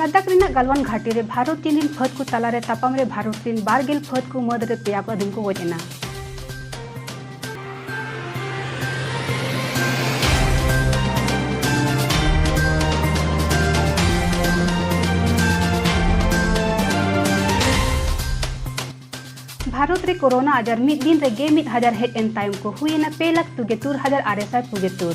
ᱞᱟᱫᱟᱠᱷ ᱨᱮᱱᱟᱜ ᱜᱟᱞᱣᱟᱱ ᱜᱷᱟᱴᱤ ᱨᱮ ᱵᱷᱟᱨᱚᱛ ᱪᱤᱱ ᱨᱤᱱ ᱯᱷᱟᱹᱫ ᱠᱚ ᱛᱟᱞᱟᱨᱮ ᱛᱟᱯᱟᱢ ᱨᱮ ᱵᱷᱟᱨᱚᱛ ᱨᱤᱱ ᱵᱟᱨᱜᱮᱞ ᱯᱷᱟᱹᱫ ᱠᱚ ᱢᱟᱹᱫ ᱨᱮ ᱯᱮᱭᱟ ᱯᱷᱟᱹᱫᱤᱱ ᱠᱚ ᱜᱚᱡ ᱮᱱᱟ ᱵᱷᱟᱨᱚᱛ ᱨᱮ ᱠᱳᱨᱳᱱᱟ ᱟᱡᱟᱨ ᱢᱤᱫ ᱫᱤᱱ ᱨᱮ ᱜᱮ ᱢᱤᱫ ᱦᱟᱡᱟᱨ ᱦᱮᱡ ᱮᱱ ᱛᱟᱭᱚᱢ ᱠᱚ ᱦᱩᱭᱮᱱᱟ ᱯᱮ ᱞᱟᱠᱷ ᱛᱩᱜᱮ ᱛᱩᱨ ᱦᱟᱡᱟᱨ ᱟᱨᱮ ᱥᱟᱭ ᱛᱩᱜᱮ ᱛᱩᱨ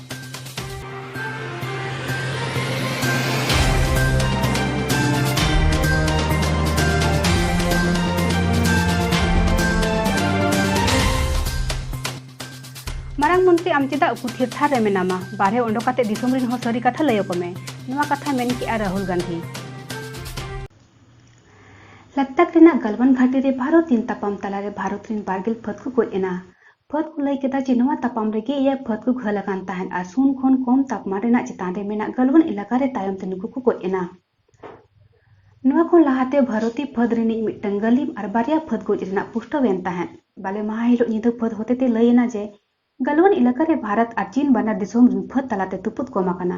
ᱢᱟᱨᱟᱝ ᱢᱚᱱᱛᱨᱤ ᱟᱢ ᱪᱮᱫᱟᱜ ᱩᱠᱩ ᱛᱷᱤᱨ ᱛᱷᱟᱨ ᱨᱮ ᱢᱮᱱᱟᱢᱟ ᱵᱟᱨᱦᱮ ᱚᱰᱚᱠ ᱠᱟᱛᱮ ᱫᱤᱥᱚᱢ ᱨᱤᱱ ᱦᱚᱸ ᱥᱟᱹᱨᱤ ᱠᱟᱛᱷᱟ ᱞᱟᱹᱭ ᱟᱠᱚ ᱢᱮ ᱱᱚᱣᱟ ᱠᱟᱛᱷᱟ ᱢᱮᱱ ᱠᱮᱜᱼᱟ ᱨᱟᱦᱩᱞ ᱜᱟᱱᱫᱷᱤ ᱞᱟᱫᱟᱠᱷ ᱨᱮᱱᱟᱜ ᱜᱟᱞᱣᱟᱱ ᱜᱷᱟᱴᱤ ᱨᱮ ᱵᱷᱟᱨᱚᱛ ᱪᱤᱱ ᱛᱟᱯᱟᱢ ᱛᱟᱞᱟᱨᱮ ᱵᱷᱟᱨᱚᱛ ᱨᱤᱱ ᱵᱟᱨᱜᱮᱞ ᱯᱷᱟᱹᱫ ᱠᱚ ᱜᱚᱡ ᱮᱱᱟ ᱯᱷᱟᱹᱫᱽ ᱠᱚ ᱞᱟᱹᱭ ᱠᱮᱫᱟ ᱡᱮ ᱱᱚᱣᱟ ᱛᱟᱯᱟᱢ ᱨᱮᱜᱮ ᱮᱭᱟᱭ ᱯᱷᱟᱹᱫᱽ ᱠᱚ ᱜᱷᱟᱹᱞ ᱟᱠᱟᱱ ᱛᱟᱦᱮᱸᱫ ᱟᱨ ᱥᱩᱱ ᱠᱷᱚᱱ ᱠᱚᱢ ᱛᱟᱯᱢᱟᱱ ᱨᱮᱱᱟᱜ ᱪᱮᱛᱟᱱ ᱨᱮ ᱢᱮᱱᱟᱜ ᱜᱟᱞᱣᱟᱱ ᱮᱞᱟᱠᱟ ᱨᱮ ᱛᱟᱭᱚᱢ ᱛᱮ ᱱᱩᱠᱩ ᱠᱚ ᱜᱚᱡ ᱮᱱᱟ᱾ ᱱᱚᱣᱟ ᱠᱷᱚᱱ ᱞᱟᱦᱟ ᱛᱮ ᱵᱷᱟᱨᱚᱛᱤ ᱯᱷᱟᱹᱫᱽ ᱨᱤᱱᱤᱡ ᱢᱤᱫᱴᱟᱹᱝ ᱜᱟᱹᱞᱤᱢ ᱟᱨ ᱵᱟᱨᱭᱟ ᱯᱷᱟᱹᱫᱽ ᱜᱚᱡ ᱨᱮᱱᱟᱜ ᱯᱩᱥᱴᱟᱹᱣ ᱮᱱ ᱛᱟᱦᱮᱸᱫ᱾ ᱵᱟᱞᱮ ᱢᱟᱦᱟᱸ ᱦᱤᱞᱚᱜ ᱧᱤᱫᱟᱹ ᱯᱷᱟᱹᱫᱽ ᱦᱚᱛᱮ ᱛᱮ ᱞᱟᱹᱭ ᱮᱱᱟ ᱡᱮ ᱜᱟᱞᱣᱟᱱ ᱮᱞᱟᱠᱟ ᱨᱮ ᱵᱷᱟᱨᱚᱛ ᱟᱨ ᱪᱤᱱ ᱵᱟᱱᱟᱨ ᱫᱤᱥᱚᱢ ᱨᱤᱱ ᱯᱷᱟᱹᱫᱽ ᱛᱟᱞᱟ ᱛᱮ ᱛᱩᱯᱩᱫ ᱠᱚᱢ ᱟᱠᱟᱱᱟ᱾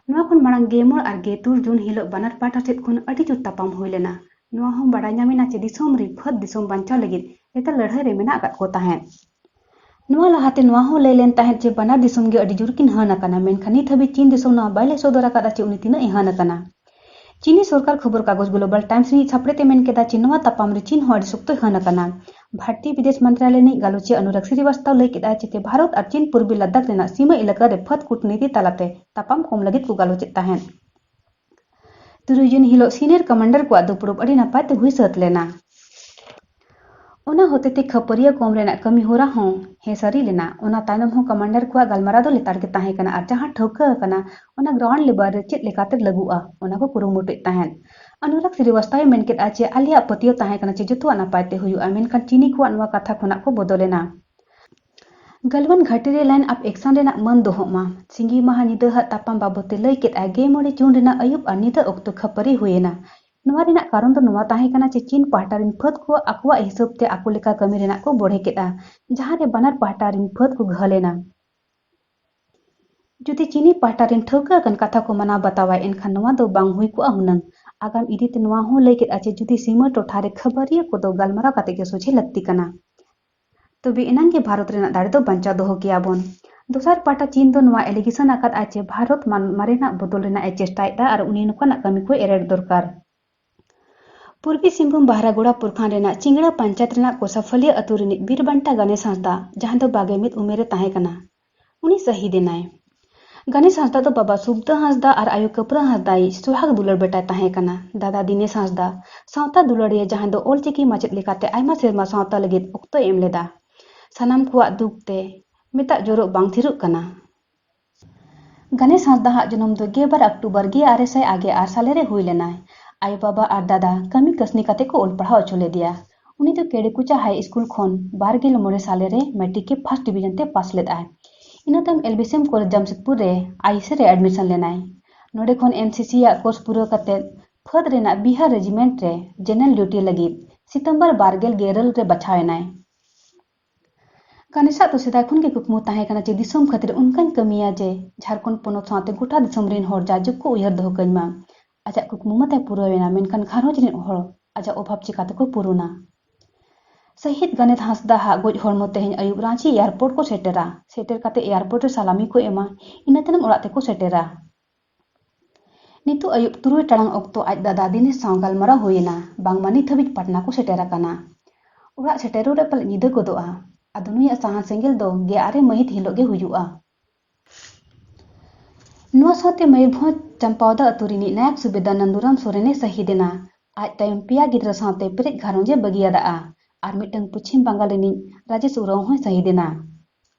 ᱱᱚᱣᱟ ᱠᱷᱚᱱ ᱢᱟᱬᱟᱝ ᱜᱮ ᱢᱚᱬ ᱟᱨ ᱜᱮ ᱛᱩᱨ ᱡᱩᱱ ᱦᱤᱞᱚᱜ ᱵᱟᱱᱟᱨ ᱯᱟᱦᱴᱟ ᱥᱮᱫ ᱠᱷᱚᱱ ᱟᱹᱰᱤ ᱡᱩᱨ ᱛᱟᱯᱟᱢ ᱦᱩᱭ ᱞᱮᱱᱟ ᱱᱚᱣᱟ ᱦᱚᱸ ᱵᱟᱰᱟᱭ ᱧᱟᱢ ᱮᱱᱟ ᱪᱮ ᱫᱤᱥᱚᱢ ᱨᱮ ᱯᱷᱟᱹᱫ ᱫᱤᱥᱚᱢ ᱵᱟᱧᱪᱟᱣ ᱞᱟᱹᱜᱤᱫ ᱞᱮᱛᱟᱲ ᱞᱟᱹᱲᱦᱟᱹᱭ ᱨᱮ ᱢᱮᱱᱟᱜ ᱟᱠᱟᱫ ᱠᱚ ᱛᱟᱦᱮᱸᱫ᱾ ᱱᱚᱣᱟ ᱞᱟᱦᱟ ᱛᱮ ᱱᱚᱣᱟ ᱦᱚᱸ ᱞᱟᱹᱭ ᱞᱮᱱ ᱛᱟᱦᱮᱸᱫ ᱪᱮ ᱵᱟᱱᱟᱨ ᱫᱤᱥᱚᱢ ᱜᱮ ᱟᱹᱰᱤ ᱡᱳᱨ ᱠᱤᱱ ᱦᱟᱹᱱ ᱟᱠᱟᱱᱟ ᱢᱮᱱᱠᱷᱟᱱ ᱱᱤᱛ ᱦᱟᱹᱵᱤᱡ ᱪᱤᱱ ᱫᱤᱥᱚᱢ ᱱᱚᱣᱟ ᱵᱟᱭ ᱞᱟᱹᱭ ᱥᱚᱫᱚᱨ ᱟᱠᱟᱫᱼᱟ ᱪᱮ ᱩᱱᱤ ᱛᱤᱱᱟᱹᱜ ᱮ ᱦᱟᱹᱱ ᱟᱠᱟᱱᱟ᱾ ᱪᱤᱱᱤ ᱥᱚᱨᱠᱟᱨ ᱠᱷᱚᱵᱚᱨ ᱠᱟᱜᱚᱡᱽ ᱜᱞᱳᱵᱟᱞ ᱴᱟᱭᱢᱥ ᱨᱤᱱᱤᱡ ᱥᱟᱯᱲᱮᱛ ᱮ ᱢᱮᱱ ᱠᱮᱫᱼᱟ ᱪᱮ ᱱᱚᱣᱟ ᱛᱟᱯᱟᱢ ᱨᱮ ᱪᱤᱱ ᱦᱚᱸ ᱟᱹᱰᱤ ᱥᱚᱠᱛᱚᱭ ᱦᱟᱹᱱ ᱟᱠᱟᱱᱟ᱾ ᱵᱷᱟᱨᱛᱤᱭᱚ ᱵᱤᱫᱮᱥ ᱢᱚᱱᱛᱨᱟᱞᱚᱭ ᱨᱤᱱᱤᱡ ᱜᱟᱞᱚᱪᱤᱭᱟᱹ ᱚᱱᱩᱨᱟᱜᱽ ᱥᱨᱤᱵᱟᱥᱛᱟᱣ ᱞᱟᱹᱭ ᱠᱮᱫᱼᱟ ᱪᱮ ᱪᱮ ᱵᱷᱟᱨᱚᱛ ᱟᱨ ᱪᱤᱱ ᱯᱩᱨᱵᱤ ᱞᱟᱫᱟᱠᱷ ᱨᱮᱱᱟᱜ ᱥᱤᱢᱟᱹ ᱮᱞᱟᱠᱟ ᱨᱮ ᱯᱷᱟᱹᱫ ᱠᱩᱴᱱᱤᱛᱤ ᱛᱟᱞᱟ ᱛᱮ ᱛᱟᱯᱟᱢ ᱠᱚᱢ ᱞᱟᱹᱜᱤᱫ ᱠᱚ ᱜᱟᱞᱚᱪᱮᱫ ᱛᱟᱦᱮᱸᱫ᱾ ᱛᱩᱨᱩᱭ ᱡᱩᱱ ᱦᱤᱞᱳᱜ ᱥᱤᱱᱤᱭᱚᱨ ᱠᱚᱢᱟᱱᱰᱟᱨ ᱠᱚᱣᱟᱜ ᱫᱩᱯᱲᱩᱵ ᱟᱹᱰᱤ ᱱᱟᱯᱟᱭ ᱛᱮ ᱦᱩᱭ ᱥᱟᱹᱛ ᱞᱮᱱᱟ ᱚᱱᱟ ᱦᱚᱛᱮᱛᱮ ᱠᱷᱟᱹᱯᱟᱹᱨᱤᱭᱟᱹ ᱠᱚᱢ ᱨᱮᱱᱟᱜ ᱠᱟᱹᱢᱤ ᱦᱚᱨᱟ ᱦᱚᱸ ᱦᱮᱸ ᱥᱟᱹᱨᱤ ᱞᱮᱱᱟ ᱚᱱᱟ ᱛᱟᱭᱱᱚᱢ ᱦᱚᱸ ᱠᱚᱢᱟᱱᱰᱟᱨ ᱠᱚᱣᱟᱜ ᱜᱟᱞᱢᱟᱨᱟᱣ ᱫᱚ ᱞᱮᱛᱟᱲ ᱜᱮ ᱛᱟᱦᱮᱸ ᱠᱟᱱᱟ ᱟᱨ ᱡᱟᱦᱟᱸ ᱴᱷᱟᱹᱣᱠᱟᱹ ᱟᱠᱟᱱᱟ ᱚᱱᱟ ᱜᱨᱟᱣᱩᱱᱰ ᱞᱮᱵᱟᱨ ᱨᱮ ᱪᱮᱫ ᱞᱮᱠᱟᱛᱮ ᱞᱟᱹᱜᱩᱜᱼᱟ ᱚᱱᱟ ᱠᱚ ᱠᱩᱨᱩᱢᱩᱴᱩᱭᱮᱫ ᱛᱟᱦᱮᱸᱫ ᱟᱱᱩᱨᱟᱜᱽ ᱥᱨᱤᱵᱟᱥᱛᱟᱣᱮ ᱢᱮᱱ ᱠᱮᱫᱼᱟ ᱡᱮ ᱟᱞᱮᱭᱟᱜ ᱯᱟᱹᱛᱭᱟᱹᱣ ᱛᱟᱦᱮᱸ ᱠᱟᱱᱟ ᱡᱮ ᱡᱚᱛᱚᱣᱟᱜ ᱱᱟᱯᱟᱭ ᱛᱮ ᱦᱩᱭᱩᱜᱼᱟ ᱢᱮᱱᱠᱷᱟᱱ ᱪᱤᱱᱤ ᱠᱚᱣᱟᱜ ᱱᱚᱣᱟ ᱠᱟᱛᱷᱟ ᱠᱷᱚᱱᱟᱜ ᱠᱚ ᱵᱚᱫᱚᱞᱮᱱᱟ ᱜᱟᱞᱣᱟᱱ ᱜᱷᱟᱹᱴᱤ ᱨᱮ ᱞᱟᱭᱤᱱ ᱟᱯ ᱮᱠᱥᱚᱱ ᱨᱮᱱᱟᱜ ᱢᱟᱹᱱ ᱫᱚᱦᱚᱜ ᱢᱟ᱾ ᱥᱤᱸᱜᱤ ᱢᱟᱦᱟᱸ ᱧᱤᱫᱟᱹ ᱦᱟᱜ ᱛᱟᱯᱟᱢ ᱵᱟᱵᱚᱛ ᱛᱮ ᱞᱟᱹᱭ ᱠᱮᱫᱼᱟᱭ ᱜᱮ ᱢᱚᱬᱮ ᱡᱩᱱ ᱨᱮᱱᱟᱜ ᱟᱹᱭᱩᱵ ᱟᱨ ᱧᱤᱫᱟᱹ ᱚᱠᱛᱚ ᱠᱷᱟᱹᱯᱟᱹᱨᱤ ᱦᱩᱭ ᱮᱱᱟ᱾ ᱱᱚᱶᱟ ᱨᱮᱱᱟᱜ ᱠᱟᱨᱚᱱ ᱫᱚ ᱱᱚᱶᱟ ᱛᱟᱦᱮᱸ ᱠᱟᱱᱟ ᱪᱤ ᱪᱤᱱ ᱯᱟᱦᱴᱟ ᱨᱤᱱ ᱯᱷᱟᱹᱫᱽ ᱠᱚ ᱟᱠᱚᱣᱟᱜ ᱦᱤᱥᱟᱹᱵᱽ ᱛᱮ ᱟᱠᱚ ᱞᱮᱠᱟ ᱠᱟᱹᱢᱤ ᱨᱮᱱᱟᱜ ᱠᱚ ᱵᱚᱲᱦᱮ ᱠᱮᱫᱼᱟ ᱡᱟᱦᱟᱸ ᱨᱮ ᱵᱟᱱᱟᱨ ᱯᱟᱦᱴᱟ ᱨᱤᱱ ᱯᱷᱟᱹᱫᱽ ᱠᱚ ᱜᱷᱟᱹᱞ ᱮᱱᱟ᱾ ᱡᱩᱫᱤ ᱪᱤᱱᱤ ᱯᱟᱦᱴᱟ ᱨᱤᱱ ᱴᱷᱟᱹᱣᱠᱟᱹ ᱟᱠᱟᱱ ᱠᱟᱛᱷᱟ ᱠᱚ ᱢᱟᱱᱟᱣ ᱵᱟᱛᱟᱣᱟᱭ ᱮᱱᱠᱷᱟᱱ ᱱᱚᱶᱟ ᱫᱚ ᱵᱟᱝ ᱦᱩᱭ ᱠᱚᱜᱼᱟ ᱦᱩᱱᱟᱹᱝ᱾ ᱟᱜᱟᱢ ᱤᱫᱤ ᱛᱮ ᱱᱚᱶᱟ ᱦᱚᱸ ᱞᱟᱹᱭ ᱠᱮᱫᱼᱟ ᱪᱤ ᱡᱩᱫᱤ ᱥᱤᱢᱟᱹ ᱴᱚᱴᱷᱟ ᱨᱮ ᱠᱷᱟᱹᱵᱟᱹᱨᱤᱭᱟᱹ ᱠᱚᱫᱚ ᱜᱟᱞᱢᱟᱨᱟᱣ ᱠᱟᱛᱮ ᱜᱮ ᱥᱚᱡᱷᱮ ᱞᱟᱹᱠᱛᱤ ᱠᱟᱱᱟ᱾ ᱛᱚᱵᱮ ᱮᱱᱟᱝ ᱜᱮ ᱵᱷᱟᱨᱚᱛ ᱨᱮᱱᱟᱜ ᱫᱟᱲᱮ ᱫᱚ ᱵᱟᱧᱪᱟᱣ ᱫᱚᱦᱚ ᱠᱮᱭᱟ ᱵᱚᱱ᱾ ᱫᱚᱥᱟᱨ ᱯᱟᱦᱴᱟ ᱪᱤᱱ ᱫᱚ ᱱᱚᱣᱟ ᱮᱞᱤᱜᱮᱥᱚᱱ ᱟᱠᱟᱫᱼᱟ ᱪᱮ ᱵᱷᱟᱨᱚᱛ ᱢᱟᱨᱮᱱᱟᱜ ᱵᱚᱫᱚᱞ ᱨᱮᱱᱟᱜ ᱮ ᱪᱮᱥᱴᱟᱭᱮᱫᱼᱟ ᱟᱨ ᱩᱱᱤ ᱱᱚᱠᱟᱱᱟᱜ ᱠᱟᱹᱢᱤ ᱠᱚᱭ ᱮᱨᱮᱲ ᱫᱚᱨᱠᱟᱨ᱾ ᱯᱩᱨᱵᱤ ᱥᱤᱝᱵᱷᱩᱢ ᱵᱟᱦᱨᱟᱜᱳᱲᱟ ᱯᱩᱨᱠᱷᱟᱱᱰ ᱨᱮᱱᱟᱜ ᱪᱤᱝᱲᱟ ᱯᱟᱧᱪᱟᱭᱛ ᱨᱮᱱᱟᱜ ᱠᱚᱥᱟᱯᱷᱟᱞᱤᱭᱟᱹ ᱟᱹᱛᱩ ᱨᱤᱱᱤᱡ ᱵᱤᱨᱵᱟᱱᱴᱟ ᱜᱟᱱᱮᱥ ᱦᱟᱸᱥᱫᱟᱜ, ᱡᱟᱦᱟᱸᱭ ᱫᱚ ᱵᱟᱜᱮ ᱢᱤᱫ ᱩᱢᱮᱨ ᱮ ᱛᱟᱦᱮᱸ ᱠᱟᱱᱟ, ᱩᱱᱤ ᱥᱟᱹᱦᱤᱫ ᱮᱱᱟᱭ ᱜᱟᱱᱮᱥ ᱦᱟᱸᱥᱫᱟ ᱫᱚ ᱵᱟᱵᱟ ᱥᱩᱵᱫᱟ ᱦᱟᱸᱥᱫᱟ ᱟᱨ ᱟᱭᱳ ᱠᱟᱹᱯᱨᱟᱹ ᱦᱟᱸᱥᱫᱟ ᱤᱡ ᱥᱩᱦᱟᱜᱽ ᱫᱩᱞᱟᱹᱲ ᱵᱮᱴᱟᱭ ᱛᱟᱦᱮᱸ ᱠᱟᱱᱟ ᱫᱟᱫᱟ ᱫᱤᱱᱮᱥ ᱦᱟᱸᱥᱫᱟ ᱥᱟᱶᱛᱟ ᱫᱩᱞᱟᱹᱲᱤᱭᱟᱹ ᱡᱟᱦᱟᱸᱭ ᱫᱚ ᱚᱞ ᱪᱤᱠᱤ ᱢᱟᱪᱮᱫ ᱞᱮᱠᱟᱛᱮ ᱟᱭᱢᱟ ᱥᱮᱨᱢᱟ ᱥᱟᱶᱛᱟ ᱞᱟᱹᱜᱤᱫ ᱚᱠᱛᱚᱭ ᱮᱢ ᱞᱮᱫᱟ ᱥᱟᱱᱟᱢ ᱠᱚᱣᱟᱜ ᱫᱩᱠ ᱛᱮ ᱢᱮᱛᱟᱜ ᱡᱚᱨᱚᱜ ᱵᱟᱝ ᱛᱷᱤᱨᱚᱜ ᱠᱟᱱᱟ ᱜᱟᱱᱮᱥ ᱦᱟᱸᱥᱫᱟ ᱦᱟᱜ ᱡᱚᱱᱚᱢ ᱫᱚ ᱜᱮᱵᱟᱨ ᱚᱠᱴᱳᱵᱚᱨ ᱜᱮ ᱟᱨᱮ ᱥᱟᱭ ᱟᱜᱮ ᱟᱨ ᱥᱟᱞᱮ ᱨᱮ ᱦᱩᱭ ᱞᱮᱱᱟᱭ ᱟᱭᱳ ᱵᱟᱵᱟ ᱟᱨ ᱫᱟᱫᱟ ᱠᱟᱹᱢᱤ ᱠᱟᱹᱥᱱᱤ ᱠᱟᱛᱮ ᱠᱚ ᱚᱞ ᱯᱟᱲᱦᱟᱣ ᱚᱪᱚ ᱞᱮᱫᱮᱭᱟ ᱩᱱᱤ ᱫᱚ ᱠᱮᱲᱮᱠᱩᱪᱟ ᱦᱟᱭ ᱥᱠᱩᱞ ᱠᱷᱚᱱ ᱵᱟᱨ ᱜᱮᱞ ᱢᱚᱬᱮ ᱥᱟᱞᱮ ᱨᱮ ᱢᱮᱴᱨᱤᱠ ᱨᱮ ᱯᱷᱟᱥᱴ ᱰᱤᱵᱷᱤᱡᱚᱱ ᱛᱮ ᱯᱟᱥ ᱞᱮᱫᱟᱭ ᱤᱱᱟᱹ ᱛᱟᱭᱚᱢ ᱮᱞᱵᱤᱥᱮᱢ ᱠᱚᱞᱮᱡᱽ ᱡᱟᱢᱥᱮᱫᱽᱯᱩᱨ ᱨᱮ ᱟᱭᱤᱥᱮ ᱨᱮ ᱮᱰᱢᱤᱥᱚᱱ ᱞᱮᱱᱟᱭ ᱱᱚᱰᱮ ᱠᱷᱚᱱ ᱮᱱ ᱥᱤ ᱥᱤ ᱟᱜ ᱠᱳᱨᱥ ᱯᱩᱨᱟᱹᱣ ᱠᱟᱛᱮ ᱯᱷᱟᱹᱫᱽ ᱨᱮᱱᱟᱜ ᱵᱤᱦᱟᱨ ᱨᱮᱡᱤᱢᱮᱱᱴ ᱨᱮ ᱡᱮᱱᱟᱨᱮᱞ ᱰᱤᱭᱩᱴᱤ ᱞᱟᱹᱜᱤᱫ ᱥᱤᱛᱚᱢᱵᱚᱨ ᱵᱟᱨ ᱜᱮᱞ ᱜᱮᱨᱟᱹᱞ ᱨᱮ ᱵᱟᱪᱷᱟᱣ ᱮᱱᱟᱭ ᱠᱟᱱᱮᱥᱟᱜ ᱫᱚ ᱥᱮᱫᱟᱭ ᱠᱷᱚᱱ ᱜᱮ ᱠᱩᱠᱢᱩ ᱛᱟᱦᱮᱸ ᱠᱟᱱᱟ ᱡᱮ ᱫᱤᱥᱚᱢ ᱠᱷᱟᱹᱛᱤᱨ ᱚᱱᱠᱟᱧ ᱠᱟᱹᱢᱤᱭᱟ ᱡᱮ ᱡᱷᱟᱨᱠᱷᱚᱸᱰ ᱯᱚᱱᱚᱛ ᱥᱟᱶᱛᱮ ᱜᱚᱴᱟ ᱫᱤᱥᱚᱢ ᱨᱮᱱ ᱦᱚᱲ ᱡᱟᱭᱡᱩᱜᱽ ᱠᱚ ᱩᱭᱦᱟᱹᱨ ᱫᱚᱦᱚ ᱠᱟᱹᱧ ᱢᱟ ᱟᱡᱟᱜ ᱠᱩᱠᱢᱩ ᱢᱟ ᱛᱟᱭ ᱯᱩᱨᱟᱹᱣ ᱮᱱᱟ ᱢᱮᱱᱠᱷᱟᱱ ᱜᱷᱟᱨᱚᱸᱡᱽ ᱨᱮᱱ ᱦᱚᱲ ᱟᱡᱟᱜ ᱚᱵᱷᱟᱵᱽ ᱪᱤᱠᱟᱹ ᱛᱮᱠᱚ ᱯᱩᱨᱩᱱᱟ ᱥᱟᱹᱦᱤᱫ ᱜᱟᱱᱮᱛ ᱦᱟᱸᱥᱫᱟ ᱦᱟᱜ ᱜᱚᱡ ᱦᱚᱲᱢᱚ ᱛᱮᱦᱮᱧ ᱟᱹᱭᱩᱵ ᱨᱟᱺᱪᱤ ᱮᱭᱟᱨᱯᱳᱨᱴ ᱠᱚ ᱥᱮᱴᱮᱨᱟ ᱥᱮᱴᱮᱨ ᱠᱟᱛᱮ ᱮᱭᱟᱨᱯᱳᱨᱴ ᱨᱮ ᱥᱟᱞᱟᱢᱤ ᱠᱚ ᱮᱢᱟ ᱤᱱᱟᱹ ᱛᱟᱭᱱᱚᱢ ᱚᱲᱟᱜ ᱛᱮᱠᱚ ᱥᱮᱴᱮᱨᱟ ᱱᱤᱛᱚᱜ ᱟᱹᱭᱩᱵ ᱛᱩᱨᱩᱭ ᱴᱟᱲᱟᱝ ᱚᱠᱛᱚ ᱟᱡ ᱫᱟᱫᱟ ᱫᱤᱱᱮᱥ ᱥᱟᱶ ᱜᱟᱞᱢᱟᱨᱟᱣ ᱦᱩᱭ ᱮᱱᱟ ᱵᱟᱝᱢᱟ ᱱᱤᱛ ᱦᱟᱹᱵᱤᱡ ᱯᱟᱴᱱᱟ ᱠᱚ ᱥᱮᱴᱮᱨ ᱟᱠᱟᱱᱟ᱾ ᱚᱲᱟᱜ ᱥᱮᱴᱮᱨᱚᱜ ᱨᱮ ᱯᱟᱞᱮᱫ ᱧᱤᱫᱟᱹ ᱜᱚᱫᱚᱜᱼᱟ᱾ ᱟᱫᱚ ᱱᱩᱭᱟᱜ ᱥᱟᱦᱟᱱ ᱥᱮᱸᱜᱮᱞ ᱫᱚ ᱜᱮ ᱟᱨᱮ ᱢᱟᱹᱦᱤᱛ ᱦᱤᱞᱚᱜ ᱜᱮ ᱦᱩᱭᱩᱜᱼᱟ᱾ ᱱᱚᱣᱟ ᱥᱟᱶᱛᱮ ᱢᱚᱭᱩᱨᱵᱷᱚᱸᱡᱽ ᱪᱟᱢᱯᱟᱣᱫᱟ ᱟᱹᱛᱩ ᱨᱤᱱᱤᱡ ᱱᱟᱭᱟᱵᱽ ᱥᱩᱵᱮᱫᱟᱨ ᱱᱟᱱᱫᱩᱨᱟᱢ ᱥᱚᱨᱮᱱ ᱮ ᱥᱟᱹᱦᱤᱫᱽ ᱮᱱᱟ᱾ ᱟᱡ ᱛᱟᱭᱚᱢ ᱯᱮᱭᱟ ᱜᱤᱫᱽᱨᱟᱹ ᱥᱟᱶᱛᱮ ᱯᱮᱨᱮᱡ ᱜᱷᱟᱨᱚᱸᱡᱽ ᱮ ᱵᱟᱹᱜᱤᱭᱟᱫᱼᱟ᱾ ᱟᱨ ᱢᱤᱫᱴᱟᱹᱝ ᱯᱚᱪᱷᱤᱢ ᱵᱟᱝᱜᱟᱞ ᱨᱤᱱᱤᱡ ᱨᱟᱡᱮᱥ ᱩᱨᱟᱣ ᱦᱚᱸᱭ ᱥᱟᱹᱦᱤᱫᱽ ᱮᱱᱟ᱾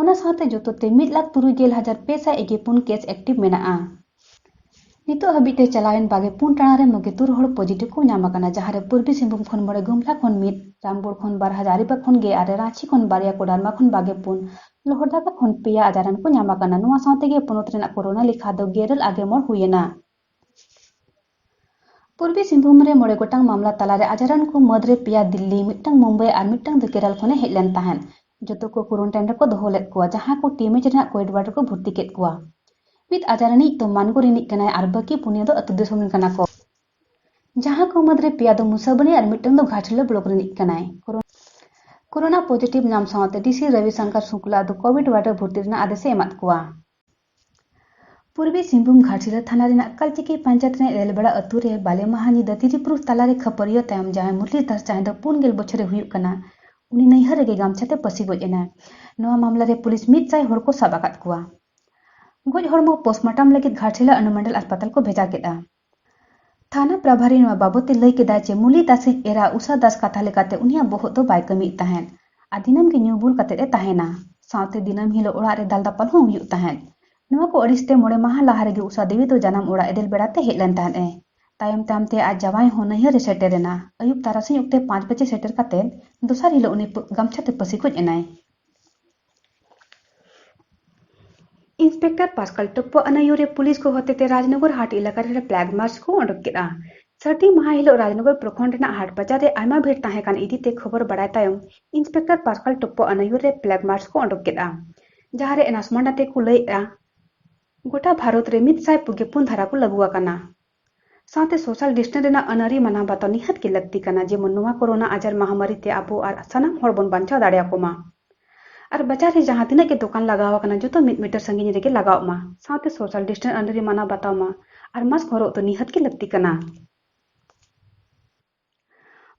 ᱚᱱᱟ ᱥᱟᱶᱛᱮ ᱡᱚᱛᱚ ᱛᱮ ᱢᱤᱫ ᱞᱟᱠᱷ ᱛᱩᱨᱩᱭ ᱜᱮᱞ ᱦᱟᱡᱟᱨ ᱯᱮ ᱥᱟᱭ ᱮᱜᱮ ᱯᱩᱱ ᱠᱮᱥ ᱮᱠᱴᱤᱵᱷ ᱢᱮᱱᱟᱜᱼᱟ ᱱᱤᱛᱚᱜ ᱦᱟᱹᱵᱤᱡ ᱛᱮ ᱪᱟᱞᱟᱣᱮᱱ ᱵᱟᱜᱮ ᱯᱩᱱ ᱴᱟᱲᱟᱝ ᱨᱮ ᱢᱚᱜᱮ ᱛᱩᱨ ᱦᱚᱲ ᱯᱚᱡᱤᱴᱤᱵᱷ ᱠᱚ ᱧᱟᱢ ᱟᱠᱟᱱᱟ ᱡᱟᱦᱟᱸ ᱨᱮ ᱯᱩᱨᱵᱤ ᱥᱤᱝᱵᱷᱩᱢ ᱠᱷᱚᱱ ᱢᱚᱬᱮ ᱜᱩᱢᱞᱟ ᱠᱷᱚᱱ ᱢᱤᱫ ᱨᱟᱢᱜᱚᱲ ᱠᱷᱚᱱ ᱵᱟᱨ ᱦᱟᱡᱟᱨᱤᱵᱟᱜᱽ ᱠᱷᱚᱱ ᱜᱮ ᱟᱨᱮ ᱨᱟᱺᱪᱤ ᱠᱷᱚᱱ ᱵᱟᱨᱭᱟ ᱠᱳᱰᱟᱨᱢᱟ ᱠᱷᱚᱱ ᱵᱟᱜᱮ ᱯᱩᱱ ᱞᱚᱦᱚᱨᱫᱟᱜᱟ ᱠᱷᱚᱱ ᱯᱮᱭᱟ ᱟᱡᱟᱨᱟᱱ ᱠᱚ ᱧᱟᱢ ᱟᱠᱟᱱᱟ ᱱᱚᱣᱟ ᱥᱟᱶᱛᱮ ᱜᱮ ᱯᱚᱱᱚᱛ ᱨᱮᱱᱟᱜ ᱠᱳᱨᱳᱱᱟ ᱞᱮᱠᱷᱟ ᱫᱚ ᱜᱮᱨᱮᱞ ᱟᱜᱮ ᱢᱚᱬ ᱦᱩᱭᱮᱱᱟ ᱯᱩᱨᱵᱤ ᱥᱤᱝᱵᱷᱩᱢ ᱨᱮ ᱢᱚᱬᱮ ᱜᱚᱴᱟᱝ ᱢᱟᱢᱞᱟ ᱛᱟᱞᱟᱨᱮ ᱟᱡᱟᱨᱟᱱ ᱠᱚ ᱢᱟᱹᱫᱽ ᱨᱮ ᱯᱮᱭᱟ ᱫᱤᱞᱞᱤ ᱢᱤᱫᱴᱟᱝ ᱢᱩᱢᱵᱟᱭ ᱟᱨ ᱢᱤᱫᱴᱟᱝ ᱫᱚ ᱠᱮᱨᱟᱞ ᱠᱷᱚᱱᱮ ᱦᱮᱡ ᱞᱮᱱ ᱛᱟᱦᱮᱸᱫ ᱡᱚᱛᱚ ᱠᱚ ᱠᱩᱨᱩᱱᱴᱟᱭᱤᱱ ᱨᱮᱠᱚ ᱫᱚᱦᱚ ᱞᱮᱫ ᱠᱚᱣᱟ ᱡᱟᱦᱟᱸ ᱠᱚ ᱴᱤᱢᱮᱡᱽ ᱨᱮᱱᱟᱜ ᱠᱳᱭᱮᱰ ᱣᱟᱨᱰ ᱨᱮᱠᱚ ᱵᱷᱩᱨᱛᱤ ᱠᱮᱫ ᱠᱚᱣᱟ ᱢᱤᱫ ᱟᱡᱟᱨᱟᱱᱤᱡ ᱫᱚ ᱢᱟᱱᱜᱳ ᱨᱤᱱᱤᱡ ᱠᱟᱱᱟᱭ ᱟᱨ ᱵᱟᱹᱠᱤ ᱯᱩᱱᱭᱟᱹ ᱫᱚ ᱟᱹᱛᱩ ᱫᱤᱥᱚᱢ ᱨᱮᱱ ᱠᱟᱱᱟ ᱠᱚ ᱡᱟᱦᱟᱸ ᱠᱚ ᱢᱩᱫᱽᱨᱮ ᱯᱮᱭᱟ ᱫᱚ ᱢᱩᱥᱟᱵᱚᱱᱤ ᱟᱨ ᱢᱤᱫᱴᱟᱝ ᱫᱚ ᱜᱷᱟᱴᱥᱤᱞᱟ ᱵᱞᱚᱠ ᱨᱤᱱᱤᱡ ᱠᱟᱱᱟᱭ ᱠᱳᱨᱳᱱᱟ ᱯᱚᱡᱤᱴᱤᱵᱷ ᱧᱟᱢ ᱥᱟᱶᱛᱮ ᱰᱤᱥᱤ ᱨᱚᱵᱤ ᱥᱚᱝᱠᱚᱨ ᱥᱩᱠᱞᱟ ᱫᱚ ᱠᱳᱵᱷᱤᱰ ᱣᱟᱨᱰ ᱨᱮ ᱵᱷᱩᱨᱛᱤ ᱨᱮᱱᱟᱜ ᱟᱫᱮᱥ ᱮ ᱮᱢᱟᱫ ᱠᱚᱣᱟ ᱯᱩᱨᱵᱤ ᱥᱤᱝᱵᱷᱩᱢ ᱜᱷᱟᱴᱥᱤᱞᱟᱹ ᱛᱷᱟᱱᱟ ᱨᱮᱱᱟᱜ ᱠᱟᱞᱪᱤᱠᱤ ᱯᱟᱧᱪᱟᱭᱮᱛ ᱨᱮᱱᱟᱜ ᱨᱮᱞᱵᱟᱲᱟ ᱟᱹᱛᱩ ᱨᱮ ᱵᱟᱞᱮ ᱢᱟᱦᱟ ᱧᱤᱫᱟᱹ ᱛᱤᱨᱤᱯᱩᱨᱩᱥ ᱛᱟᱞᱟᱨᱮ ᱠᱷᱟᱹᱯᱟᱹᱨᱤᱭᱟᱹ ᱛᱟᱭᱚᱢ ᱡᱟᱦᱟᱸᱭ ᱢᱩᱨᱞᱤ ᱫᱟᱥ ᱡᱟᱦᱟᱸᱭ ᱫᱚ ᱯᱩᱱ ᱜᱮᱞ ᱵᱚᱪᱷᱚᱨᱮ ᱦᱩᱭᱩᱜ ᱠᱟᱱᱟ ᱩᱱᱤ ᱱᱟᱹᱭᱦᱟᱹᱨ ᱨᱮᱜᱮ ᱜᱟᱢᱪᱷᱟ ᱛᱮ ᱯᱟᱹᱥᱤ ᱜᱚᱡ ᱮᱱᱟᱭ ᱱᱚᱣᱟ ᱢᱟᱢᱞᱟ ᱨᱮ ᱯᱩᱞᱤᱥ ᱢᱤᱫ ᱥᱟᱭ ᱦᱚᱲ ᱠᱚ ᱥᱟᱵ ᱟᱠᱟᱫ ᱠᱚᱣᱟ ᱜᱚᱡ ᱦᱚᱲᱢᱚ ᱯᱳᱥᱴᱢᱚᱨᱴᱚᱢ ᱞᱟᱹᱜᱤᱫ ᱜᱷᱟᱴᱥᱤᱞᱟᱹ ᱚᱱᱩᱢᱚᱱᱰᱚᱞ ᱦᱟᱥᱯᱟᱛᱟᱞ ᱠᱚ ᱵᱷᱮᱡᱟ ᱠᱮᱫᱼᱟ ᱛᱷᱟᱱᱟ ᱯᱨᱟᱵᱷᱟᱨᱤ ᱱᱚᱣᱟ ᱵᱟᱵᱚᱛᱮ ᱞᱟᱹᱭ ᱠᱮᱫᱟ ᱡᱮ ᱢᱩᱞᱤ ᱫᱟᱥᱤᱡ ᱮᱨᱟ ᱩᱥᱟ ᱫᱟᱥ ᱠᱟᱛᱷᱟ ᱞᱮᱠᱟᱛᱮ ᱩᱱᱤᱭᱟᱜ ᱵᱚᱦᱚᱜ ᱫᱚ ᱵᱟᱭ ᱠᱟᱹᱢᱤᱭᱮᱫ ᱛᱟᱦᱮᱸᱫ ᱟᱨ ᱫᱤᱱᱟᱹᱢ ᱜᱮ ᱧᱩ ᱵᱩᱞ ᱠᱟᱛᱮ ᱮ ᱛᱟᱦᱮᱸᱱᱟ᱾ ᱥᱟᱶᱛᱮ ᱫᱤᱱᱟᱹᱢ ᱦᱤᱞᱚᱜ ᱚᱲᱟᱜ ᱨᱮ ᱫᱟᱞᱫᱟᱯᱟᱞ ᱦᱚᱸ ᱦᱩᱭᱩᱜ ᱛᱟᱦᱮᱸᱫ᱾ ᱱᱚᱣᱟ ᱠᱚ ᱟᱹᱲᱤᱥ ᱛᱮ ᱢᱚᱬᱮ ᱢᱟᱦᱟᱸ ᱞᱟᱦᱟ ᱨᱮᱜᱮ ᱩᱥᱟ ᱫᱮᱣᱤ ᱫᱚ ᱡᱟᱱᱟᱢ ᱚᱲᱟᱜ ᱮᱫᱮᱞ ᱵᱮᱲᱟ ᱛᱮ ᱦᱮᱡ ᱞᱮᱱ ᱛᱟᱦᱮᱸᱫ ᱮ᱾ ᱛᱟᱭᱚᱢ ᱛᱟᱭᱚᱢ ᱛᱮ ᱟᱡ ᱡᱟᱶᱟᱭ ᱦᱚᱸ ᱱᱟᱹᱭᱦᱟᱹᱨ ᱮ ᱥᱮᱴᱮᱨ ᱮᱱᱟ᱾ ᱟᱹᱭᱩᱵ ᱛᱟᱨᱟᱥᱤᱧ ᱚᱠᱛᱮ ᱯᱟᱸᱪ ᱵᱟᱡᱮ ᱥᱮᱴᱮᱨ ᱠᱟᱛᱮ ᱫᱚᱥᱟᱨ ᱦᱤᱞᱚᱜ ᱩᱱᱤ ᱜᱟᱢᱪᱷᱟ ᱛᱮ ᱯᱟᱹᱥᱤ ᱜᱚᱡ ᱮᱱᱟᱭ᱾ ᱤᱱᱥᱯᱮᱠᱴᱚᱨ ᱯᱟᱥᱠᱟᱞ ᱴᱚᱯᱯᱚ ᱟᱱᱟᱭᱩᱨᱮ ᱯᱩᱞᱤᱥ ᱠᱚ ᱦᱚᱛᱮᱛᱮ ᱨᱟᱡᱽᱱᱚᱜᱚᱨ ᱦᱟᱴ ᱮᱞᱟᱠᱟ ᱨᱮ ᱯᱞᱟᱜ ᱢᱟᱨᱪ ᱠᱚ ᱚᱰᱚᱠ ᱠᱮᱫᱼᱟ ᱥᱟᱹᱨᱫᱤ ᱢᱟᱦᱟ ᱦᱤᱞᱳᱜ ᱨᱟᱡᱽᱱᱚᱜᱚᱨ ᱯᱨᱚᱠᱷᱚᱸᱰ ᱨᱮᱱᱟᱜ ᱦᱟᱴ ᱵᱟᱡᱟᱨ ᱨᱮ ᱟᱭᱢᱟ ᱵᱷᱤᱲ ᱛᱟᱦᱮᱸ ᱠᱟᱱ ᱤᱫᱤᱛᱮ ᱠᱷᱚᱵᱚᱨ ᱵᱟᱲᱟᱭ ᱛᱟᱭᱚᱢ ᱤᱱᱥᱯᱮᱠᱴᱚᱨ ᱯᱟᱥᱠᱟᱞ ᱴᱚᱯᱯᱚ ᱟᱱᱟᱭᱩᱨ ᱨᱮ ᱯᱞᱟᱜ ᱢᱟᱨᱪ ᱠᱚ ᱚᱰᱚᱠ ᱠᱮᱫᱼᱟ ᱡᱟᱦᱟᱸᱨᱮ ᱮᱱᱟᱥᱢᱟᱱ ᱟᱛᱮ ᱠᱚ ᱞᱟᱹᱭᱮᱫᱼᱟ ᱜᱚᱴᱟ ᱵᱷᱟᱨᱚᱛ ᱨᱮ ᱢᱤᱫ ᱥᱟᱭ ᱯᱩᱜᱮ ᱯᱩᱱ ᱫᱷᱟᱨᱟ ᱠᱚ ᱞᱟᱹᱜᱩ ᱟᱠᱟᱱᱟ ᱥᱟᱶᱛᱮ ᱥᱳᱥᱟᱞ ᱰᱤᱥᱴᱮᱱᱥ ᱨᱮᱱᱟᱜ ᱟᱹᱱᱟᱹᱨᱤ ᱢᱟᱱᱟᱣ ᱵᱟᱛᱟᱣ ᱱᱤᱦᱟᱹᱛ ᱜᱮ ᱞᱟᱹᱠᱛᱤ ᱠᱟᱱᱟ ᱡᱮᱢᱚᱱ ᱱᱚᱶᱟ ᱠᱳᱨᱳᱱᱟ ᱟᱡᱟᱨ ᱢᱟᱦᱟᱢᱟᱹᱨᱤ ᱛᱮ ᱟᱵᱚ ᱟᱨ ᱥᱟᱱᱟᱢ ᱦᱚᱲ ᱵᱚᱱ ᱵᱟᱧᱪᱟᱣ ᱫᱟᱲᱮ ᱟᱠᱚ ᱢᱟ ᱟᱨ ᱵᱟᱡᱟᱨ ᱨᱮ ᱡᱟᱦᱟᱸ ᱛᱤᱱᱟᱹᱜ ᱜᱮ ᱫᱚᱠᱟᱱ ᱞᱟᱜᱟᱣ ᱟᱠᱟᱱᱟ ᱡᱚᱛᱚ ᱢᱤᱫ ᱢᱤᱴᱟᱨ ᱥᱟᱺᱜᱤᱧ ᱨᱮᱜᱮ ᱞᱟᱜᱟᱣᱜ ᱢᱟ ᱥᱟᱶᱛᱮ ᱥᱳᱥᱟᱞ ᱰᱤᱥᱴᱮᱱᱥ ᱟᱹᱱᱟᱹᱨᱤ ᱢᱟᱱᱟᱣ ᱵᱟᱛᱟᱣ ᱢᱟ ᱟᱨ ᱢᱟᱥᱠ ᱦᱚᱨᱚᱜ ᱫᱚ ᱱᱤᱦᱟᱹᱛ ᱜᱮ ᱞᱟᱹᱠᱛᱤ ᱠᱟᱱᱟ᱾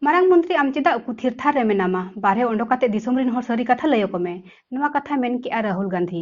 ᱢᱟᱨᱟᱝ ᱢᱚᱱᱛᱨᱤ ᱟᱢ ᱪᱮᱫᱟᱜ ᱩᱠᱩ ᱛᱷᱤᱨ ᱛᱷᱟᱨ ᱨᱮ ᱢᱮᱱᱟᱢᱟ? ᱵᱟᱨᱦᱮ ᱚᱰᱚᱠ ᱠᱟᱛᱮ ᱫᱤᱥᱚᱢ ᱨᱤᱱ ᱦᱚᱲ ᱥᱟᱹᱨᱤ ᱠᱟᱛᱷᱟ ᱞᱟᱹᱭ ᱟᱠᱚ ᱢᱮ, ᱱᱚᱶᱟ ᱠᱟᱛᱷᱟᱭ ᱢᱮᱱ ᱠᱮᱫᱼᱟ ᱨᱟᱦᱩᱞ ᱜᱟᱱᱫᱷᱤ᱾